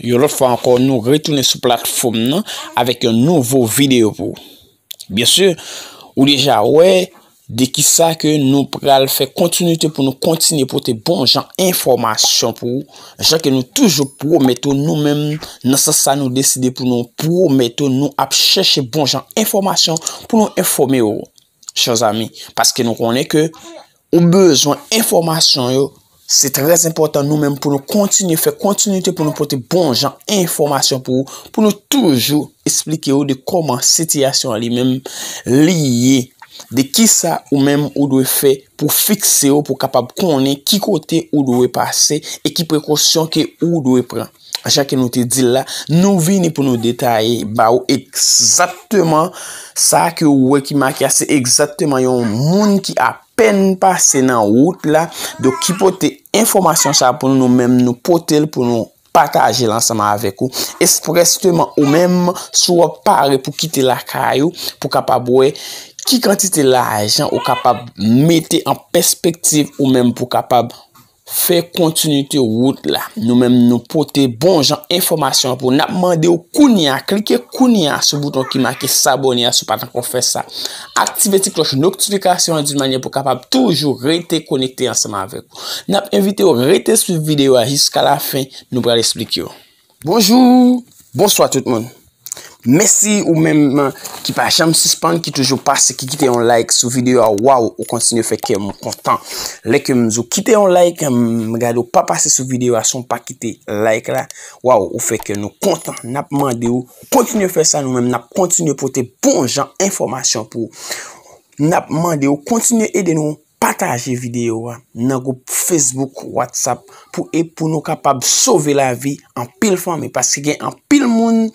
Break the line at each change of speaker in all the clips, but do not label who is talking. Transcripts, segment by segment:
Yon lòt fwa ankò nou retounen sou platfòm nan avèk yon nouvo videyo pou ou. Byen si, ou deja wè de ki sa ke nou pral fè kontinite pou nou kontinye pote bon jan enfòmasyon pou ou, jan ke nou toujou pwomèt ou nou menm nan sans sa nou deside pou nou pwomèt ou nou ap chèche bon jan enfòmasyon pou nou enfòme ou, chè zanmi, paske nou konnen ke. Ou bezwen enfòmasyon yo. Se trè enpòtan nou menm pou nou kontinye fè kontinite pou nou pote bon jan enfòmasyon pou ou, pou nou toujou esplike ou de kòman sitiyasyon li menm li ye, de ki sa ou menm ou dwe fè pou fikse ou pou kapab konnen ki kote ou dwe pase e ki prekosyon ke ou dwe pran. Jan ke nou te dil la, nou vini pou nou detaye ba ou egzakteman sa ke ou wè ki make a, se egzakteman yon moun ki a pèn pase nan wout la, do ki pote enfomasyon sa pou nou menm nou pote l pou nou pataje l ansanm avèk ou, espreseman ou menm sou wap pare pou kite lakay ou pou kapab wè ki kantite lajan ou kapab mete an pèspektiv ou menm pou kapab. Fè kontinite wout la. Nou menm nou pote bon jan enfòmasyon pou nap mande ou kounye a. Klike kounye a sou bouton ki make sabone a si w pa t ankò fè sa. Aktive ti klòch noktifikasyon an di manyè pou kapab toujou rete konekte ansanm avèk. Nap envite ou rete swiv videyo a jiska lafen nou pral esplike ou. Bonjou, bonswa tout moun. Mèsi ou menm ki pa janm sispann, ki toujou pase, ki kite yon like sou videyo a. Waw, ou kontinye fè kèm kontan. Lè ke m di ou kite yon like, m gade ou pa pase sou videyo a san ou pa kite like la. Waw, ou fè kè nou kontan. N ap mande ou kontinye fè sa nou menm. N ap kontinye pote bon jan enfòmasyon pou ou. N ap mande ou kontinye ede nou. Pataje videyo a nan gwoup Facebook, WhatsApp pou e pou nou kapab sove lavi anpil fanmi. Paske gen anpil moun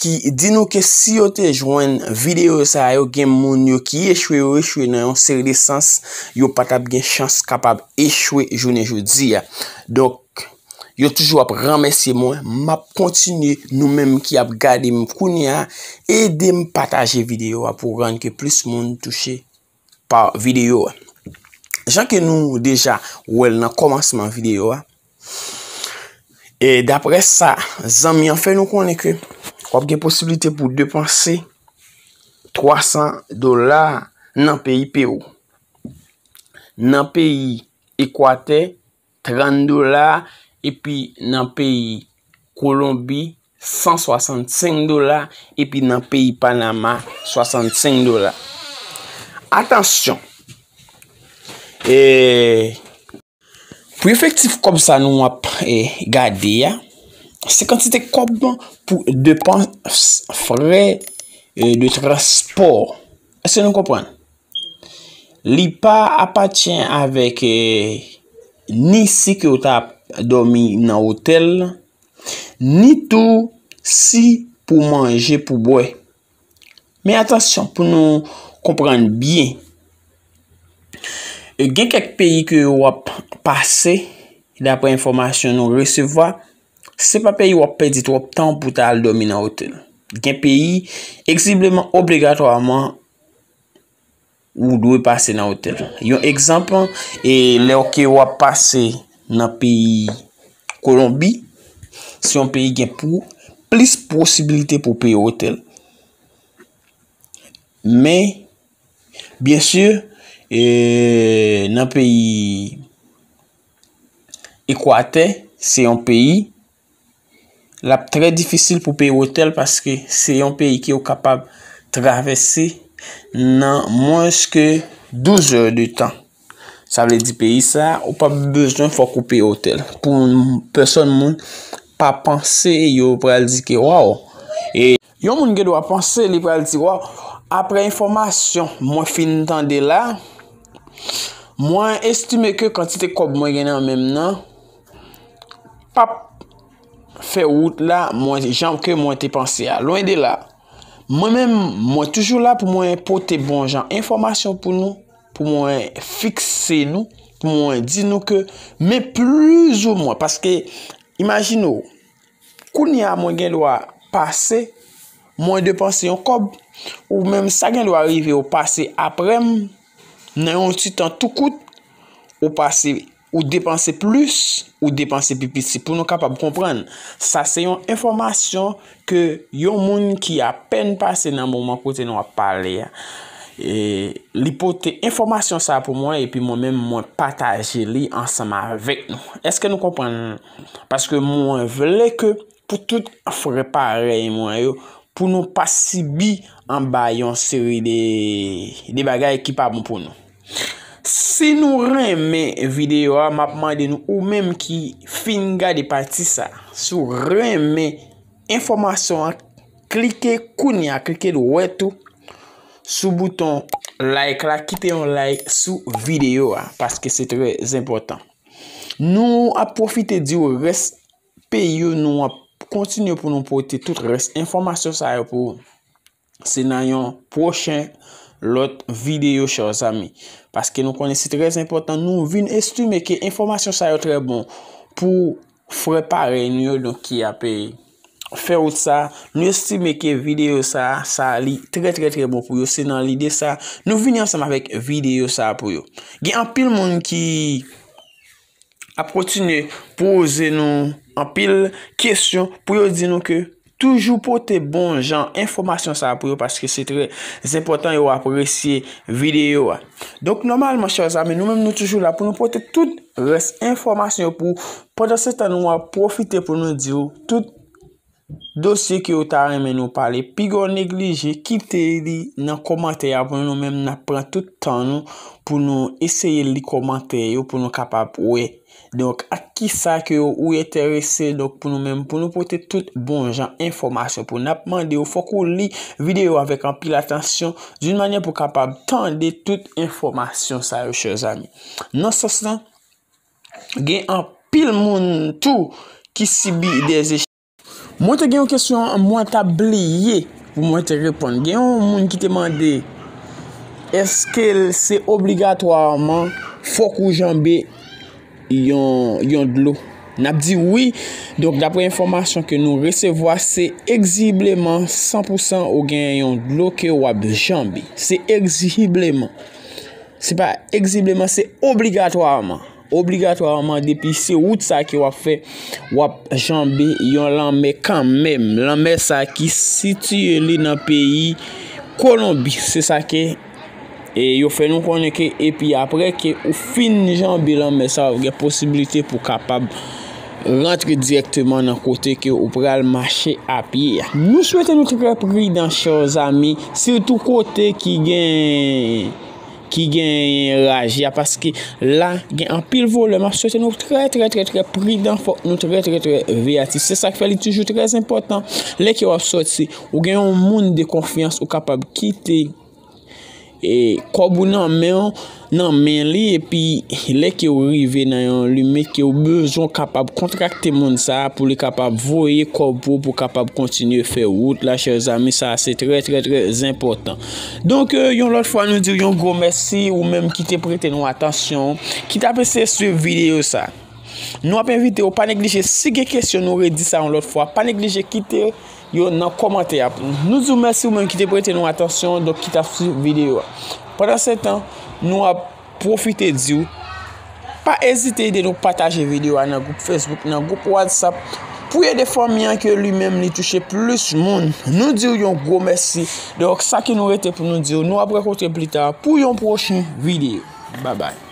ki di nou ke si yo te jwenn videyo sa yo gen moun yo ki echwe yo echwe nan yon seri de sans yo pa tap gen chans kapab echwe jounen jodi a. Donk yo toujou ap remèsye mwen map kontinye nou menm ki ap gade m kounye a ede m pataje videyo a pou rann ke plis moun touche. pa videyo a. Jan ke nou deja wèl nan komansman videyo a. E dapre sa, zanmi an fè nou konnen ke wap gen posibilite pou depanse 300 dola nan peyi Peru. Nan peyi Ekwatè. 30 dola epi nan peyi kolonbi 165 dola epi nan peyi panama 65 dola atansyon eee pou efektif kòb sa nou ap e gade ya se kantite kòb pou depans frè e de transpò eske nou konprann Li pa apatyen avèk ni si ke ou ta domi nan otèl, ni tou si pou manje pou bwe. Men atansyon pou nou konprann byen. E gen kèk peyi ke yo ap pase, dapre enfomasyon nou resevwa, se pa peyi wap pedi twop tan pou ta al domi nan otèl. Gen peyi, eksibleman, obligatwaman, Ou dwe pase nan otèl. Yon egzanp, e lè ou ke wap pase nan peyi Kolonbi, se yon peyi gen pou plis posibilite pou peye otèl. Men, byen si, e nan peyi Ekwatè, se yon peyi l ap trè difisil pou peye otèl paske se yon peyi ki ou kapab travèse nan mwens ke 12 zè de tan. Sa vle di peyi sa a ou pap bezwen fòk ou peye otèl. Pou pèsòn moun pa panse yo pral di ke waw. Yon moun gen dwa panse li pral di waw aprè enfòmasyon mwen fin tande la, mwen estime ke kantite kòb mwen gen nan menm nan pap fè wout la mwen jan ke mwen te panse a. Lwen de la, mwen menm mwen toujou la pou mwen pote bon jan enfòmasyon pou nou, pou mwen fikse nou, pou mwen di nou ke men plouz ou mwen paske imajine ou. Kounye a mwen gendwa pase, mwen depanse yon kòb, ou menm sa gendwa rive ou pase apre m, nan yon ti tan tou kout, ou pase, ou depanse plis, ou depanse pi piti pou nou kapab konprann. Sa se yon enfòmasyon ke yon moun ki apèn pase nan moman kote nou ap pale a. E li pote enfòmasyon sa pou mwen epi mwen menm mwen pataje li ansanm avèk nou. Eske nou konprann? Paske mwen vle ke pou tout frè parèy mwen yo, pou nou pa sibi anba yon seri de bagay ki pa bon pou nou. Si nou renmen videyo a, map mande nou ou menm ki fin gade pati sa. Si ou renmen enfòmasyon an, klike kounye a, klike dwèt ou sou bouton like la, kite yon like sou videyo a, paske se trè zenpòtan. Nou ap pwofite di ou rès peyi yo nou ap kontinye pou nou pote tout rès enfòmasyon sa yo pou se nan yon pwochen lòt videyo chè zanmi. Paske nou konnen se trèz enpòtan nou vin estime ke enfòmasyon sa yo trè bon pou Frè parèy nou yo nou ki ape Fè wout sa, nou estime ke videyo sa sa li trè trè trè bon pou yo se nan lide sa nou vini ansanm avèk videyo sa pou yo gen anpil moun ki ap kontinye poze nou anpil kesyon pou yo di nou ke Toujou pote bon jan enfomasyon sa pou yo paske se trè zenpotan yo apresye video a. Donk nomalman chè zami nou menm nou toujou la pou nou pote tout rès enfomasyon yo pou pandan se tan nou ap profite pou nou diw tout dosye ke yo ta renmen nou pale piga w neglije kite li nan komantè a pou nou menm nap pran tout tan nou pou nou eseye li komantè yo pou nou kapab wè Donk ak kisa ke ou enterese donk pou nou menm pou nou pote tout bon jan enfòmasyon pou nap mande ou fòk ou li videyo avèk anpil atansyon doun manyè pou kapab tande tout enfòmasyon sa yo chè zanmi. Nan sans lan gen anpil moun tou ki sibi de echèk. Mwen te gen yon kesyon mwen ta bliye pou mwen te reponn. Gen yon moun ki te mande, eske se obligatwaman fok ou janbe yon dlo? N ap di wi, donk dapre enfomasyon ke nou resevwa, se egzijibleman 100 pou 100 ou gen yon dlo ke w ap janbe. Se egzijibleman. Se pa egzijibleman, se obligatwaman. Obligatwaman depi se wout sa ke wap fè, wap janbe yon lanmè kan menm. Lanmè sa ki sitiye li nan peyi Kolonbi. Se sa ke yo fè nou konnen ke epi apre ke ou fin janbe lanmè sa wap gen posibilite pou kapab rantre direkteman nan kote ke ou pral mache apye. Nou swete nou trè pridan chè zami, sitou kote ki gen. ki genyen raje a paske la gen anpil vole map swete nou trè trè trè trè pridan fòk nou trè trè trè veyatif se sak fè li toujou trè zenpotan lè ke wap swete ou gen yon moun de konfyans ou kapab kite e kòb ou nan men ou nan men li epi lè ke ou rive nan yon lime ke ou bezon kapab kontrakte moun sa pou li kapab voye kòb pou ou pou kapab kontinye fè wout la chèzami sa se trè trè trè zenpotan. Donk, yon lòt fwa nou diw yon gwo mèsi ou menm ki te prete nou atansyon, ki tap eseye swiv videyo sa. Nou ap envite ou pa neglije si gen kesyon nou redi sa yon lòt fwa, pa neglije kite yo nan kòmantè a pou nou. Nou diw mèsi ou menm ki te prete nou atansyon, donk ki tap swiv videyo a. Pandansetan, nou ap. Pwofite di w, pa ezite ede nou pataje videyo a nan gwoup Facebook, nan gwoup WhatsApp pou w ede fanmi an ke li menm li touche plis moun. Nou di w yon gwo mèsi. Donk sa ki nou rete pou nou di w, nou ap rankontre plita pou yon pwochen videyo. Babay.